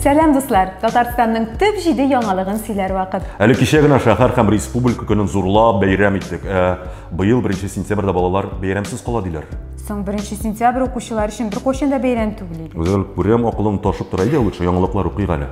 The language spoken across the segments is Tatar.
Сәлам дуслар! Татарстанның төп җиде яңалыгын сөйләр вакыт. Әле кичә генә шәһәр һәм республика көнен зурлап бәйрәм иттек. Ә, быел 1 сентябрьдә балалар бәйрәмсез кала диләр. Соң 1 сентябрь укучылар өчен беркайчан да бәйрәм түгел иде. Үзем күрәм, акылым ташып тора. Әйдә лучше яңалыклар укыйк әле.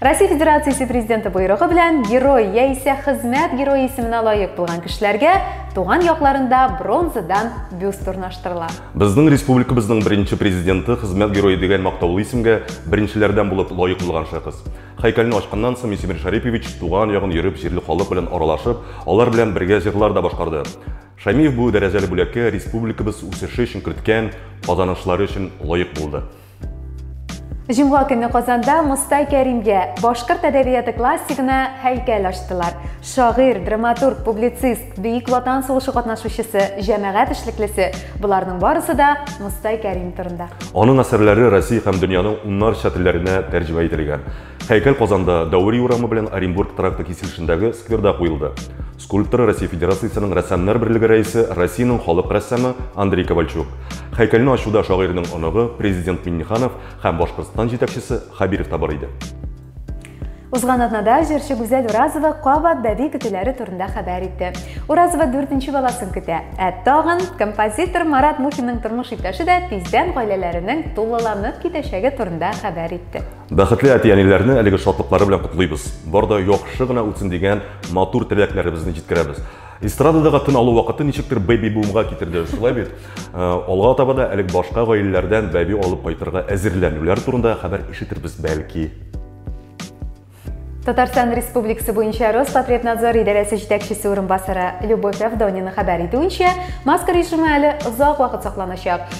Россия Федерациясе Президенты боерыгы белән герой яисә хезмәт герое исеменә лаек булган кешеләргә туган якларында бронзадан бюст урнаштырыла. Безнең республикабызның беренче президенты хезмәт герое дигән мактаулы исемгә беренчеләрдән булып лаек булган шәхес. Һәйкәлне ачканнан соң Мисимир Шарипович туган ягын йөреп, җирле халык белән аралашып, алар белән бергә җырлар да башкарды. Шәмиев бу дәрәҗәле бүләккә республикабыз үсеше өчен керткән казанышлары өчен лаек булды. Җомга көне Казанда Мостай Кәримгә башкорт әдәбияты классигына һәйкәл ачтылар. Шагыйрь, драматург, публицист, бөек ватан сугышы катнашучысы, җәмәгать эшлеклесе, буларның барысы да Мостай Кәрим турында. Аның әсәрләре Россия һәм дөньяның уннарча телләренә тәрҗемә ителгән. Һәйкәл Казанда Дәүри урамы белән Оренбург тракты киселешендәге скверда куелды. Скульптор, Россия Федерациясенең Рәссамнар берлеге рәисе, Россиянең халык рәссамы Андрей Ковальчук. Һәйкәлне ачуда шагыйрьнең оныгы, президент Минниханов һәм Башкортстан җитәкчесе Хабиров та бар иде. Узган атнада җырчы Гүзәл Уразова кабат бәби көтүләре турында хәбәр итте. Уразова дүртенче баласын көтә. Ә тагын композитор Марат Мухинның тормыш иптәше дә тиздән гаиләләренең тулыланып китәчәге турында хәбәр итте. Бәхетле әти-әниләрне әлеге шатлыклары белән котлыйбыз. Бар да яхшы гына үтсен дигән матур теләкләребезне җиткерәбез. Эстрададагы тын алу вакыты ничектер бэби-бумга китерде, шулай бит? Э, алга таба да әлег башка гаиләләрдән бәби алып кайтырга әзерләнүләр турында хәбәр ишетербез бәлки. Татарстан Республикасы буенча Роспотребнадзор идарәсе җитәкчесе урынбасары Любовь Авдонина хәбәр итүенчә, маска режимы әле озак вакыт сакланачак.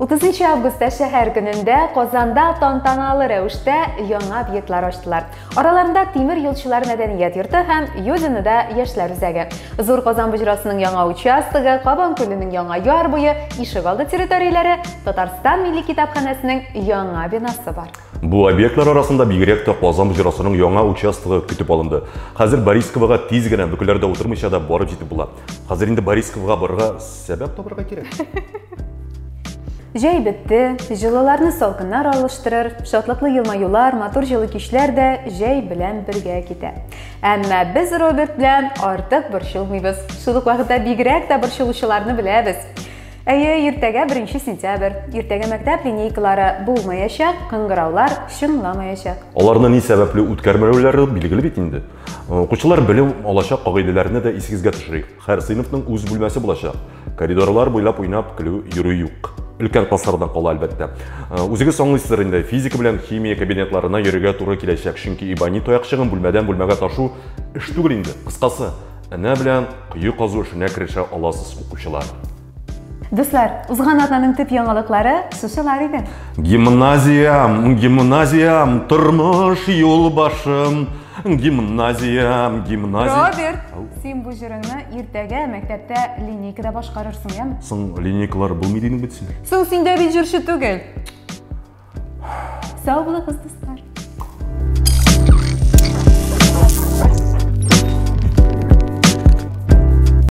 30 августта шәһәр көнендә Казанда тантаналы рәвештә яңа объектлар ачтылар. Араларында Тимир юлчылар мәдәният йорты һәм Юдиныда яшьләр үзәге. Зур Казан боҗрасының яңа участогы, Кабан күленең яңа яр буе, ишек алды территорияләре, Татарстан милли китапханәсенең яңа бинасы бар. Бу объектлар арасында бигрәк тә Казан боҗрасының яңа участогы көтеп алынды. Хәзер Борисковага тиз генә бөкеләрдә утырмыйча да барып җитеп була. Хәзер инде Борисковага барырга Сәбәп табырга кирәк. Җәй бетте, җылыларны салкыннар алыштырыр, шатлыклы елмаюлар, матур җылы кичләр дә җәй белән бергә китә. Әмма без Роберт белән артык борчылмыйбыз. Шул ук вакытта бигрәк тә борчылучыларны беләбез. Әйе, иртәгә 1 сентябрь. Иртәгә мәктәп линейкалары булмаячак, кыңгыраулар чыңламаячак. Аларны ни сәбәпле үткәрмәүләре билгеле бит инде. Укучылар белем алачак кагыйдәләрне дә исегезгә төшерик. Һәр сыйныфның үз бүлмәсе булачак. Коридорлар буйлап уйнап көлү йөрү юк. Өлкән классларда кала әлбәттә. Э, үзегез аңлыйсыздыр инде, физика белән химия кабинетларына йөрергә туры киләчәк, чөнки Ибани таякчыгын бүлмәдән бүлмәгә ташу эш түгел инде. Кыскасы, энә белән кое казу эшенә керешә аласыз, укучылар. Дуслар, узган атнаның төп яңалыклары шушылар иде. Гимназиям, гимназиям, тормыш юл башым. Гимназиям, гимназия. Роберт, син бу җырыңны иртәгә мәктәптә линейкада башкарырсың, яме? Соң линейкалар булмый дидең бит син. Соң син дә бит җырчы түгел. Сау булыгыз, дуслар.